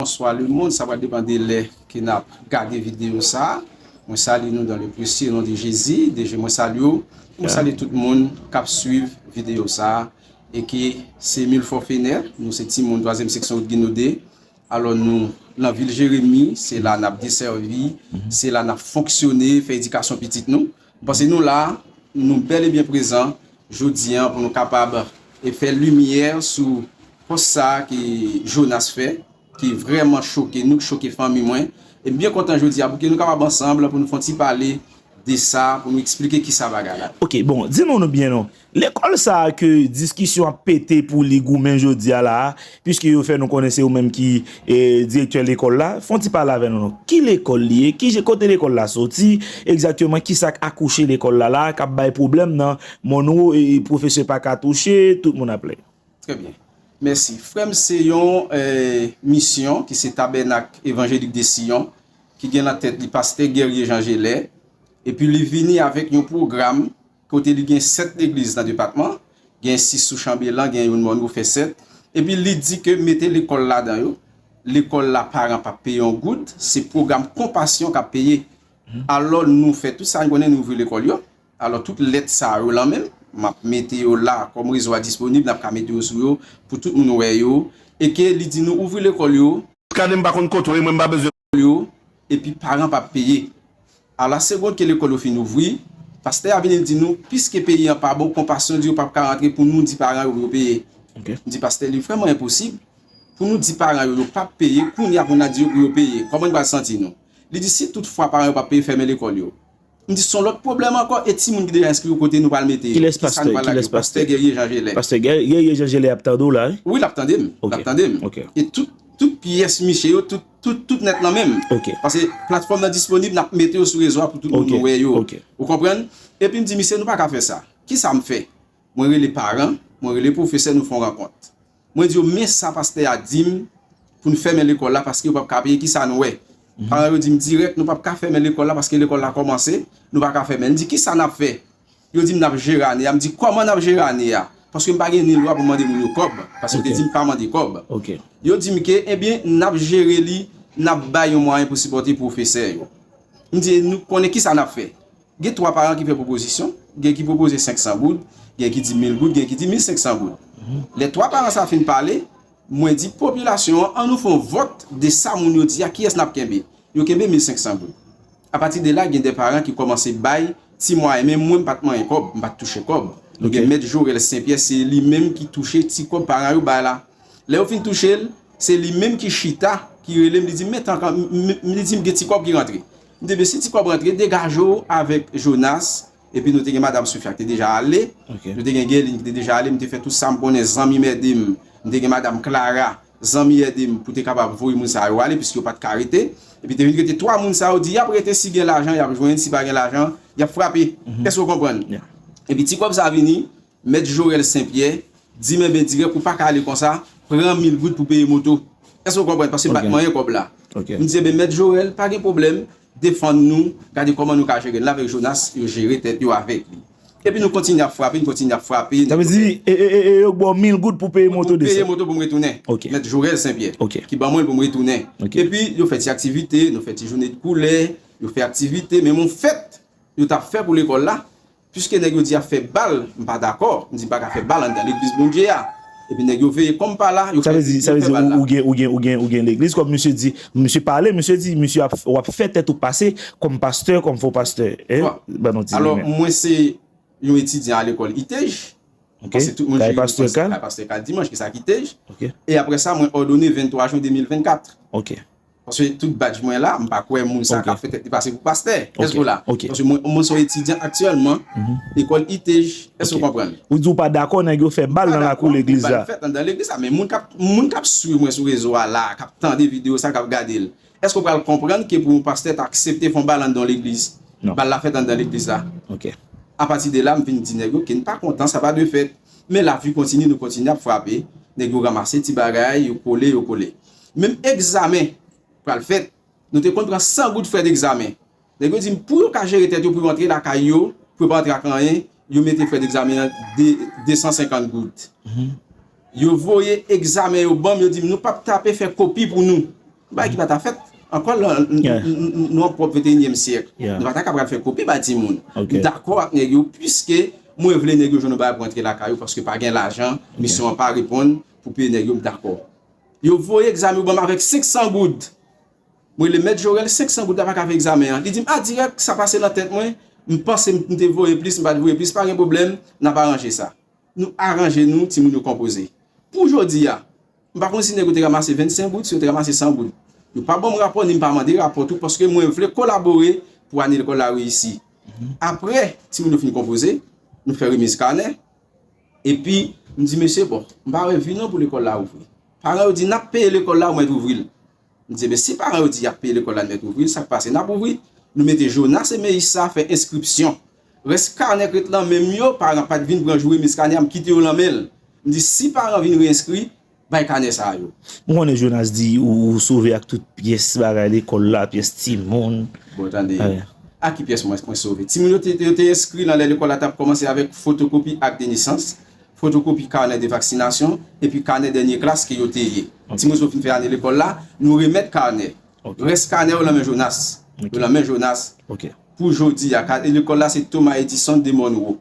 Bonswa le mond sa pral depan de lè ke nap gade video sa mwen salye nou dan le presye non de jezi deje mwen salye w mwen salye tout moun kap swiv video sa e ke se mil fò fenè nou se ti moun twazyèm seksyon wout ginode alò nou lan vil jeremi se la nap deservi se la nap fonksyone fè edikasyon pitit nou M panse nou la, nou bèl e byen prezan jodi an pou nou kapab fè limyè sou pòs sa ke Jonas fè, ki vrèman choke nou, ki choke fanmi mwen. E m byen kontan jodi a pou ke nou kapab ansanm pou nou fon ti pale de sa, pou nou eksplike ki sa bagay la. Ok, bon, di nou nou byen non. Lekòl sa a ke diskisyon ap pete pou li goumen jodi a la a, piske yo fè nou konnen se ou menm ki direktè lekòl la, fon ti pale avè nou non. Ki lekòl li ye? Ki kote lekòl la soti? Egzakteman ki sa k akouche lekòl la la a, k ap bay pwoblèm nan Monwo e pwofesè pa ka touche, tout moun ap plèn. Trè byen. Mèsi. Frè m se yon misyon ki se Tabènak Evanjelik de Siyon ki gen nan tèt li pastè Guerrier Jean Gelais epi li vini avèk yon pwogram kote li gen 7 legliz nan depatman, gen 6 sou chanbelan, gen youn mòn ou fè 7, epi li di ke mete lekòl ladan yo, lekòl la paran pap peye yon goud, se pwogram konpasyon kap peye, alò nou fè tout sa nou konnen nou ouvri lekòl yo, alò tout lèt sa yo lan menm, map mete yo la kòm rezo a disponib nap ka mete yo sou yo pou tout moun wè yo, e ke li di nou ouvri lekòl yo. Kane m pa konn kote w ye mwen m pa bezwen. lekòl yo epi paran pa peye. A la segond ke lekòl yo fin ouvri, pastè a vini di nou piske peyi an pa bon konpasyon di yo pap ka rantre pou nou di paran yo pou yo peye. M di pastè li vrèman enposib pou nou di paran yo yo pap peye kounya pou na di yo pou yo peye. Kòman n pral santi nou? Li di si tout fwa paran yo pap peye fèmen lekòl yo. M di son lòt pwoblèm ankò e timoun ki deja enskri yo kote nou pral mete yo? Kiska nou pral lage yo? Pastè Guerrier Jean Gelin. Pastè Guerrier Jean Gelin ap tande w la wi. Wi lap tande m. Ok. Lap tande m. Ok. E tout tout pyès miche yo tout tout tout nèt nan men m. Ok. Pase platfòm nan disponib nap mete yo sou rezo a pou tout moun wè yo. Ok. Ok. Ou konprann? Epi m di misye nou pa ka fè sa. Kisa m fè? Mwen rele paran, mwen rele pwofesè nou fon rankont. Mwen di yo men sa pastè a di m pou n fèmen lekòl la paske yo pap ka peye kisa nou wè paran yo di m dirèk nou pap ka fèmen lekòl la paske lekòl la kòmanse nou pa ka fèmen l m di kisa n ap fè yo di m n ap jere ane a m di kòman n ap jere ane a paske m pa gen ni lwa pou m mande moun yo kòb paske yo te di m pa mande kòb yo di m ke ebyen n ap jere li n ap bay yon mwayen pou sipòte pwofesè yo m di nou konnen kisa n ap fè. Gen 3 paran ki fè pwopozisyon, gen ki pwopoze 500 goud, gen ki di 1000 goud, gen ki di 1500 goud. Lè 3 paran sa fin pale, mwen di popilasyon an, an nou fè yon vòt de sa moun yo di a, kiyès n ap kenbe? Yo kenbe 1500 goud. Apati de la, gen de paran ki kòmanse bay ti mwayen, men mwen m pa t manyen kòb, m pa t touche kòb. Nou gen mèt Jorèl Senpyè, se li menm ki touche ti kòb paran yo bay la. Lè yo fin touche l, se li menm ki chita, ki rele m, li di m, men tank an, li di m gen ti kòb ki rantre. Nou te 2 si ti kòb rantre degaje w avèk Jonas epi nou te gen madam Sofia ki te deja ale nou te gen Gèlin ki te deja ale m te fè tout sa m konnen zanmi m ede m m te gen madam Klara zanmi ede m pou te kapab voye moun sa yo ale piske yo pa t ka rete epi te vin rete 3 moun sa yo di y ap rete si gen lajan y ap jwenn si pa gen lajan y ap frape èske w konprann epi ti kòb sa vini. Mèt Jorel Sen Pyè di men ben dirèk ou pa ka ale konsa, pran mil goud pou peye moto. Èske ou konprann? Paske bat manyen kòb la. M di enben mèt Jorel pa gen pwoblèm, defann nou, gade kòman nou ka jere l. L avèk Jonas yo jere tèt yo avèk li. Epi nou kontinye ap frape, nou kontinye ap frape. Sa vle di e yo ba w mil goud pou peye moto desann? Pou peye moto pou m retounen. Mèt Jorel Sen Pyè ki ban mwen l pou m retounen. Epi yo fè ti aktivite, nou fè ti jounen de koulè, yo fè aktivite. Men m on fèt yo t ap fè pou lekòl la, Piske nèg yo di ap fè bal, m pa dakò, m di m pa ka fè bal anndan legliz Bondye a. Epi nèg yo veye kòm pa la, yo fè bal la. Ou gen legliz kòm misye di, misye pale, misye di misye ap w ap fè tèt ou pase kòm pastè, kòm fo pastè. Ban nou ti limen. Alò mwen se yon etidyan a lekòl ITEJ. Ok. Kay pastè Kal. Kay pastè Kal Dimanche, ki sa ki ITEJ. Ok. E aprè sa mwen òdone 23 jen 2024. Ok. Paske tout badj mwen la, m pa kwè moun sa kap fè tèt li pase pou pastè. Èske w la? Paske mwen son etidyan aktyèlman lekòl ITEJ. Èske w konprann? Ou di ou pa dakò nèg yo fè bal nan lakou legliz la. Ou pa dakò bal fèt anndan legliz la. Men moun kap swiv mwen sou rezo a la, kap tande videyo sa, kap gade l. Èske w pral konprann ke pou yon pastè ta aksepte fon bal anndan yon legliz? Bal la fèt anndan legliz la. Apati de la, m vin di nèg yo ke n pa kontan, sa pa dwe fèt. Men la vi kontinye, nou kontinye ap frape. Nèg yo ranmase ti bagay, yo kole, yo kole. Menm egzamen pral fèt, nou te konn pran 100 goud frè degzamen. Nèg yo di m pou yo ka jere tèt yo pou yo antre lakay yo, pou yo pa antre ak anyen, yo mete frè degzamen an 250 goud. Yo voye egzamen yo ban m, yo di m nou p ap tape fè kopi pou nou. Bagay ki pa ta fèt ankò lan, nou an pwòp venteyinyèm syèk. Nou pa ta ka pral fè kopi ba timoun. M dakò ak nèg yo piske mwen vle nèg yo jwenn yon bagay pou antre lakay yo paske pa gen lajan, misyon an pa reponn pou peye nèg yo, m dakò. Yo voye egzamen yo ban m avèk 500 goud. M rele mèt Jorèl, 500 goud la pa ka fè egzamen an. Li di m, a dirèk, sa pase nan tèt mwen, m panse m te voye plis, m pa te voye plis, pa gen pwoblèm, n ap aranje sa. Nou aranje nou, timoun yo konpoze. Pou jodi a, m pa konn si nèg yo te ranmase 25 goud, si yo te ranmase 100 goud. Yo pa ban m rapò ni m pa mande rapò tou paske mwen vle kolabore pou ane lekòl la reyisi. Apre timoun yo fin konpoze, nou fè remiz kanè. Epi, m di mesye, bon, m pa wè vi non pou lekòl la ouvri. Paran yo di, n ap peye lekòl la ou mèt ouvri l. M di, men si paran yo di y ap peye lekòl la n mèt ouvri l, sa k pase? N ap ouvri. Nou mete Jonas e Meyis sa fè enskripsyon. Rès kanè k ret lan men m yo, paran pa t vin pran joure mis kanè a, m kite yo lan men l. M di, si paran vin reyenskri, Bay kanè sa a yo. M konnen Jonas di ou sove ak tout pyès bagay lekòl la, pyès timoun. Bon tande, ak ki pyès mwen sove? Timoun yo te enskri nan lè lekòl la t ap kòmanse avèk fotokopi ak de nesans, fotokopi kanè de vaksinasyon, epi kanè dènye klas ke yo te ye. Timoun yo fin fè ane lekòl la, nou remèt kanè. Rès kanè yo lan men Jonas. Yo lan men Jonas. Pou jodi a. Kanè lekòl la se Thomas Edison de Monroe.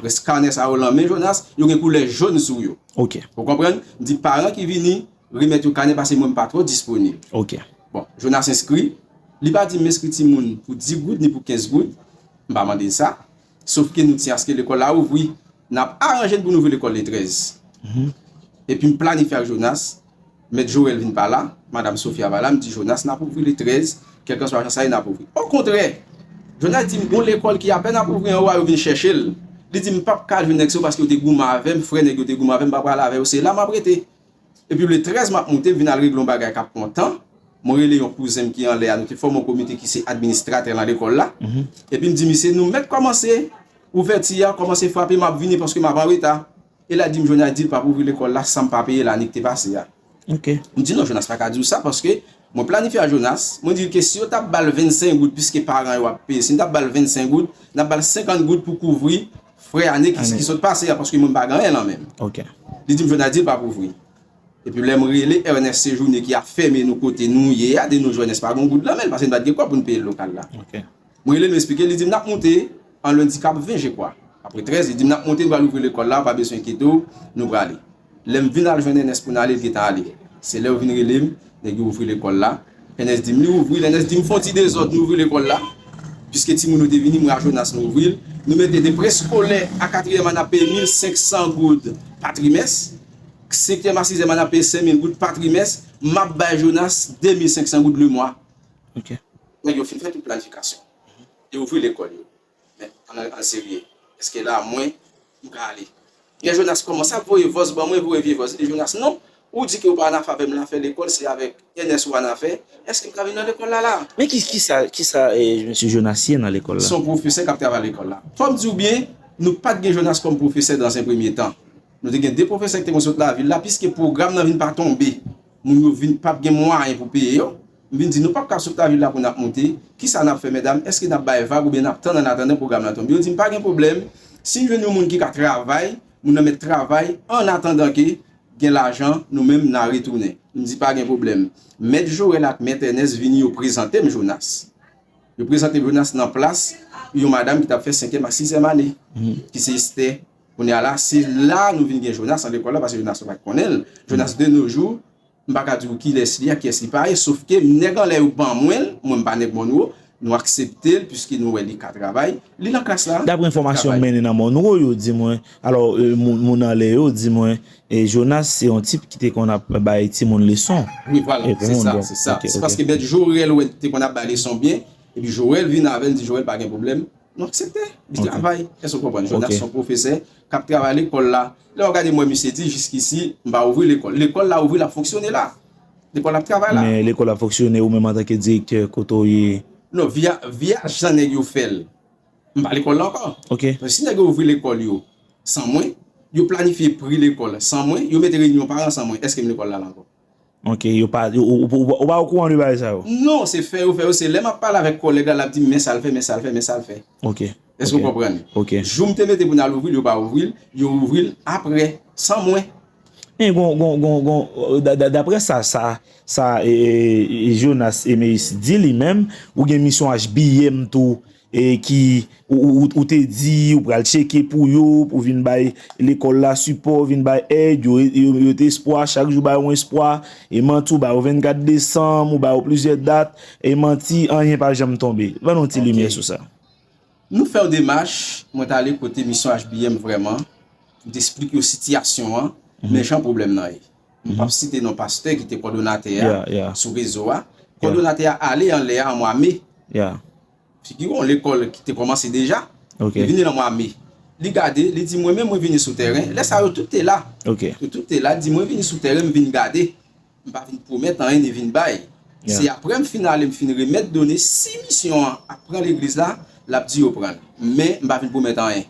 Rès kanè sa yo lan men Jonas. Yo gen koulè jòn sou yo. Ou konprann? M di paran ki vini remèt yo kanè pase mwen m pa twò disponib. Bon. Jonas enskri. Li pa di m enskri timoun pou 10 goud ni pou 15 goud. M pa mande l sa. Sof ke nou ti aske lekòl la ouvri, n ap aranje n pou n ouvri lekòl le 13. Epi m planifye ak Jonas, Mèt Joel vin pa la, Madam Sofia pa la, m di Jonas n ap ouvri le 13, kèlkanswa jan sa ye n ap ouvri. Okontrè! Jonas di m gon lekòl ki apèn ap ouvri anwo a yo vin chèche l, li di m m p ap ka jwenn nèg sa yo paske yo te goumen avè m, frè nèg yo te goumen avè m, m pa pral avè yo, se la m ap rete. Epi le 13 map moute vin al regle yon bagay kap pran tan, mwen rele yon kouzenm ki anlè a nou te fòme yon komite ki se administratè nan lekòl la, epim di misye nou mèt kòmanse ouvèti a kòmanse frape map vini paske map anreta, e la dim Jonas dil pap ouvri lekòl la sanm pa peye lanik te pase a, mdi non Jonas paka diw sa paske mwen planifye a Jonas, mwen dil ke si yo tap bal 25 goud piske paran yo ap peye si nou tap bal 25 goud nap bal 50 goud pou kouvri Frè ane ki sot pase a paske mwen m pa gen anyen lan men m. Li di m Jwenal di l pap ouvri. Epi lè m rele Ernest Sejourné ki ap fèmen nou kote nou ye a di nou Jwenès pa gen yon goud lan men l paske n pa t gen kòb pou n peye lokal la. M rele l m esplike l li di m n ap moute an lendi k ap ven jekwa. Apre 13 li di m n ap moute n pral ouvri lekòl la ou pa bezwen enkyete w nou prale. Lè m vin al jwenn Ènès pou n ale, l gentan ale. Se lè yo vin rele m, Nèg yo ouvri lekòl la. Ènès di m, Li ouvri. Lè Ènès di m, Fè yon ti dezòd, nou ouvri lekòl la. Piske timoun yo te vini, mwen ak Jonas nou ouvri l. Nou mete de preskolè a katriyèm a n ap peye mil senk san goud pa trimès. Senkyèm a sizèm a n ap peye senk mil goud pa trimès. M ap bay Jonas de mil senk san goud lemwa. Nèg yo fin fè tout planifikasyon. Yo ouvri lekòl yo. Men ann al serye eske la mwen m ka ale. Pierre Jonas kòmanse ap voye vòs ban mwen voye vye vòs e Jonas non ou di ke ou pa anafavè m la fè lekòl se avèk Ernest ou anafè eske m ka vin nan lekòl la la. Men ki kisa kisa mesye Jonas ye nan lekòl la. Son pwofesè kap travay lekòl la. Fòm diw byen nou pat gen Jonas kòm pwofesè dans en premye tan nou te gen 2 pwofesè ki te konn sot lavil la piske pwogram nan vin pa tonbe moun yo vin pap gen mwayen pou peye yo M vin di, nou pap ka sot lavil la pou n ap monte, kisa n ap fè medam, èske n ap bay vag oubyen n ap tann annatandan pwogram lan tonbe? Yo di m, pa gen pwoblèm, si n jwenn yon moun ki ka travay, moun nan mèt travay annatandan ke gen lajan, nou menm n a retounen. M di, pa gen pwoblèm. Mèt Jorèl ak mèt Ènès vini yo prezante m Jonas. Yo prezante m Jonas nan plas yon madam ki t ap fè senkyèm ak sizèm ane, ki se Estè. Kounye a la, se la nou vin gen Jonas nan lekòl la, paske Jonas yo pa t konnen l. Jonas de no jou. M pa ka di w kilès li ak kiyès li pa ye, sof ke nèg anlè yo ban mwen l, mwen m pa nèg Monroe, nou aksepte l puiske nou wè li ka travay, li nan klas la, li travay. Dapre enfòmasyon m mennen nan Monroe yo di mwen, alò moun anlè yo di mwen Jonas se yon tip ki te konn ap bay timoun leson. Wi vwala, se sa, se sa. Se paske mèt Jorèl wè l te konn ap bay leson byen, epi Jorèl vin avè l, li di Jorèl pa gen pwoblèm. Nou aksepte, li travay, èske ou konprann? Jonas se yon pwofesè k ap travay lekòl la. Lè w ap gade m wè misye di jiskisi m pa ouvri lekòl. Lekòl la ouvri, l ap fonksyone la. Lekòl la ap travay la. Men lekòl la ap fonksyone, ou menm antanke direktè, kote w ye? Non, vi a jan nèg yo fè l, m pa lekòl la ankò. Ok. Paske si nèg yo ouvri lekòl yo san mwen, yo planifye pri lekòl san mwen, yo mete reyinyon paran san mwen, èske m lekòl la la ankò? Ok yo pa ou pa okouran de bagay sa yo. Non se fè yo fè yo se lè map pale avèk kòlèg la lap dim men sal fè men sal fè men sal fè. Ok ok. Èske ou konprann? Ok. Jou m te mete pou nal ouvril yo pa ouvril, yo ouvril aprè san mwen. Men gon gon gon gon daprè sa sa sa Jonas Emeus di li menm ou gen misyon HBM tou e ki ou te di ou pral tcheke pou yo pou vin bay lekòl la sipò vin bay èd yo yo te espwa chak jou ba yo yon espwa e manti ou ba yo 24 desanm ou ba yo plizyè dat e manti anyen pa janm tonbe ban nou ti limyè sou sa. Nou fè yon demach mwen t ale kote misyon HBM vrèman m t esplik yo sitiyasyon an men jan pwoblèm nan ye. M pap site non pastè ki te kòdonatè a sou rezo a. Kòdonatè a ale anlè a an mwa me. Figi w yon lekòl ki te kòmanse deja. Li vini nan mwa me. Li gade, li di mwen menm mwen vini sou tèren. Lè sa yo tout te la. Yo tout te la. Li di mwen vini sou tèren m vin gade. M pa vin pwomèt anyen ni vin bay. Se aprè m fin ale m fin remèt done si misyon an ap pran legliz la, l ap di yo pran l. Men m pa vin pwomèt anyen.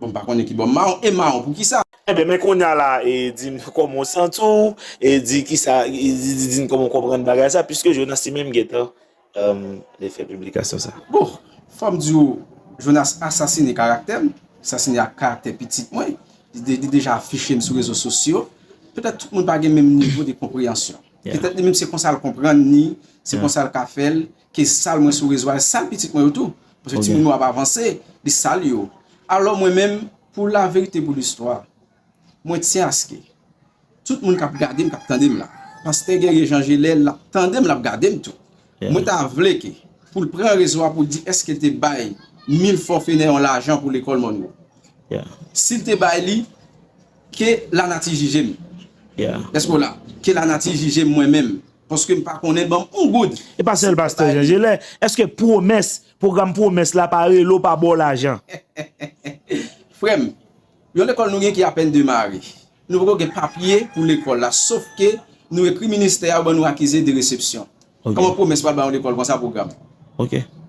Bon m pa konnen ki bò mawon e mawon pou kisa? Enben men kounya la e di m kòman w santi w e di kisa e di n kòman w konprann bagay sa puiske Jonas li menm gentan li fè piblikasyon sa. Bon fò m di w Jonas asasine karaktè m, asasine ak karaktè pitit mwen, li deja afiche m sou rezo sosyo, petèt tout moun pa gen menm nivo de konpreyansyon. Petèt li menm se konsa l konprann ni se konsa l ka fè l. Ke sal mwen sou rezo a e sal pitit mwen yo tou. Paske timoun mwen yo ap avanse, li sal yo. Alò mwen menm, pou laverite pou listwa, mwen tyen aske tout moun k ap gade m, k ap tande m la, Pastè Guerrier Jean Gelais l ap tande m, l ap gade m tou. Mwen ta vle ke pou l pran rezo a pou l di eske l te bay Milfort Fénéon lajan pou lekòl Monroe. Si l te bay li, ke lanati jije m. Eske w la? Ke lanati jije m mwen menm. Paske m pa konnen banm on goud. E pa sèl pastè Jean Gelè, eske pwomès, pwogram pwomès la pa rele w pa ba w lajan? Frè m, yon lekòl nou gen ki apèn demare. Nou poko gen papye pou lekòl la, sof ke nou ekri ministè a yo ban nou akize de resepsyon. Kòman pwomès pral ba yon lekòl konsa pwogram?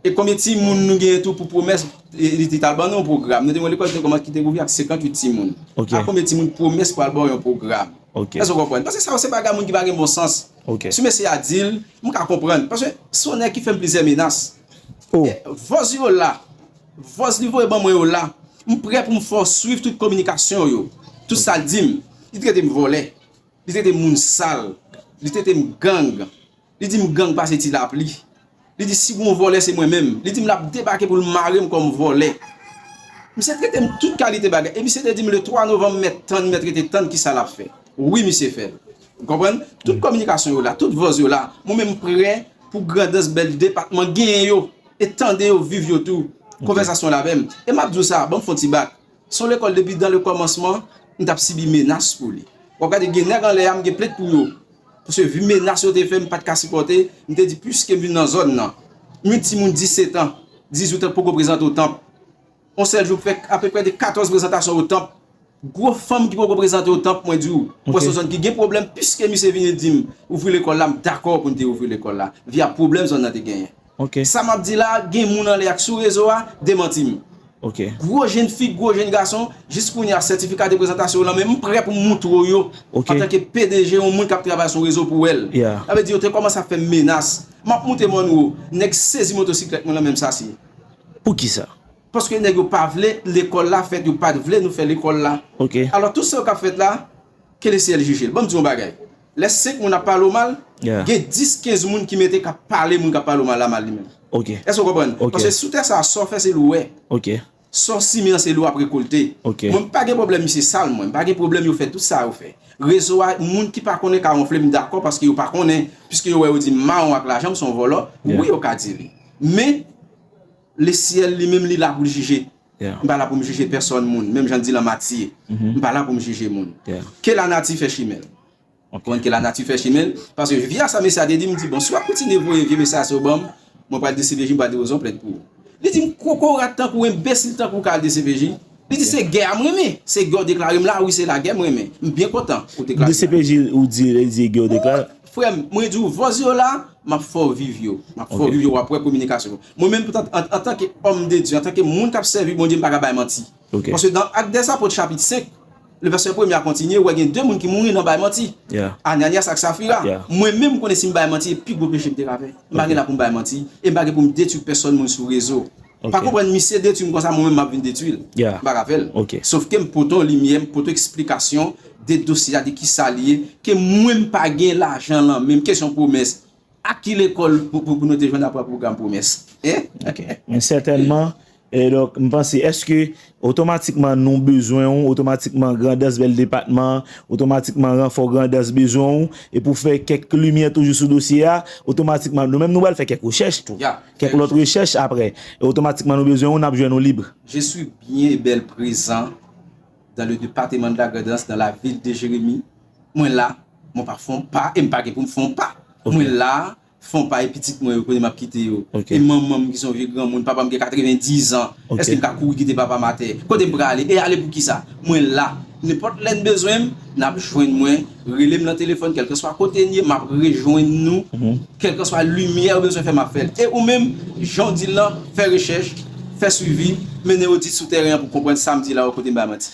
E konbyen timoun nou gen tou pou pwomès li tal ban nou yon pwogram? Nou te gen yon lekòl ki te kòmanse ki te ouvri ak 58 timoun. A konbyen timoun pwomès pral ba w yon pwogram? Ok. Èske w konprann? Paske sa yo se bagay moun ki pa gen bon sans. Ok. Si mesye a di l, m ka konprann. Paske se yon nèg ki fè m plizyè menas. Oh. Vòz li yo la. Vòz li voye ban mwen yo la. M prè pou m fè w swiv tout kominikasyon w yo. Tout sa l di m. Li trete m vòlè. Li trete m moun sal. Li trete m gang. Li di m gang pa se ti lapli. Li di si gon vòlè se mwen menm. Li di m l ap debake pou l mare m kòm vòlè. Misye trete m tout kalite bagay. E misye te di m le 3 novanm m mèt tann, m mèt rete tann kisa l ap fè. Wi misye fè l. Ou konprann? Tout kominikasyon yo la, tout vòz yo la. Mwen menm m prè pou grandans bèl depatman genyen yo. E tande yo, viv yo tou. Konvèsasyon l avè m. E m ap di w sa, ban m fon ti bak. Son lekòl depi dan le kòmansman m tap sibi menas pou li. Wap gade gen nèg anlè a m gen plent pou yo. Paske vu menas yo te fè m pat ka sipòte, m te di puiske m vin nan zòn nan. M yon timoun 17 an, 18 an poko prezante o tanp. On sèl jou m fè apeprè de 14 prezantasyon o tanp. Gwo fanm ki poko prezante o tanp mwen di w, mwen wè son zòn ki gen pwoblèm puiske misye vini di m ouvri lekòl la m dakò pou n te ouvri lekòl la via pwoblèm zòn nan te genyen. Ok. Sa map di la gen moun anlè ak sou rezo a demanti m. Ok. Gwo jenn fi gwo jenn gason jis kounye a sètifika de prezantasyon w lan men m prè pou m moutre w yo Ok. antanke pdg yon moun kap travay sou rezo pou wèl. Yeah. Sa vle di yo te kòmanse ap fè m menas. Map moute m anwo, nèg sezi motosiklèt mwen lan men m sasi. Poukisa? Paske nèg yo pa vle lekòl la fèt yo pat vle nou fè lekòl la. Ok. Alò tout sa yo kap fèt la ke le syèl jije l. Banm di w yon bagay. Lè 5 moun ap pale w mal, gen 10, 15 moun ki mete k ap pale moun k ap pale w mal la mal li menm. Èske w konprann? Paske sou tè sa a, sa w fè se l ou wè. Sa w simen an se l ou ap rekolte. Mwen m pa gen pwoblèm misye sal mwen. M pa gen pwoblèm yo fè tout sa yo fè. Rezo a, moun ki pa konnen ka wonfle m dakò paske yo pa konnen. Piske yo wè yo di m mawon ak lajan m son vòlò, wi yo ka di li. Men. Le syèl li menm li la pou l jije. M pa la pou m jije pèsòn moun, menm jan di la mati ye. M pa la pou m jije moun. Ke lanati fè chimen l. Ou konprann ke lanati fè chimen l? Paske via sa mesye a te di m di bon si w ap kontinye voye vye mesaj sa yo ban m, mwen pral dcpj m pral di ozon plèd pou ou. Li di m kokorat tankou w enbesil tankou w ka al dcpj. Li di se gè a m renmen. Se gè w deklare m la a wi se lagè m renmen. M byen kontan ou deklare m lagè. Dcpj ou di li di gè w deklare. Frè m, mwen di w vòz yo la, m ap fè w viv yo. M ap fè w viv yo w ap wè kominikasyon. Mwen menm antanke òm de Dye, antanke moun k ap sèvi Bondye m pa ka bay manti. Paske nan Actes des Apôtres chapit 5, le vèsè premye a kontinye, ou wè gen 2 moun ki mouri nan bay manti, Ananias ak Safira. Mwen menm m konnen si m bay manti e pi gwo peche m te ka fè. M pa gen la pou m bay manti e m pa gen pou m detwi pèsòn moun sou rezo. Ou pa konprann? Misye detwi m konsa mwen menm m ap vin detwi l? M pa ka fè l. Sofke m pote yon limyè, m pote yon eksplikasyon de dosye a, de kisa li ye, ke mwen m pa gen lajan lan menm, kesyon pwomès. Ak ki lekòl pou nou te jwenn apre pwogram pwomès? Ok. Men sètènman, e donk m panse, èske otomatikman nou bezwen ou, otomatikman Grandans bèl depatman, otomatikman ranfò Grandans bezwen ou, e pou fè kèk limyè toujou sou dosye a, otomatikman nou menm nou pral fè kèk rechèch tou, kèk lòt rechèch apre, e otomatikman nou bezwen ou, n ap jwenn ou libre. Je suis bien e bèl prezan. dans le departement de la Grand'Anse dans la ville de Jérémie mwen la mwen pa fon pa em pa gen poum fon pa mwen la fon pa e pitit mwen yo kounye map kite yo e manmanm ki son vye granmoun papam gen 90 ans eske m ka kouri kite papam atè kotem prale e ale poukisa mwen la nenpòt lèn bezwenm nap jwenn mwen. Rele m nan telefòn kèlkanswa kote n ye m ap rejwenn nou, kèlkanswa limyè ou bezwen fè m ap fè l. E ou menm, jan w di l lan, fè rechèch, fè swivi, mennen odit sou tèren an pou w konprann sa m di la ou kote m bay manti.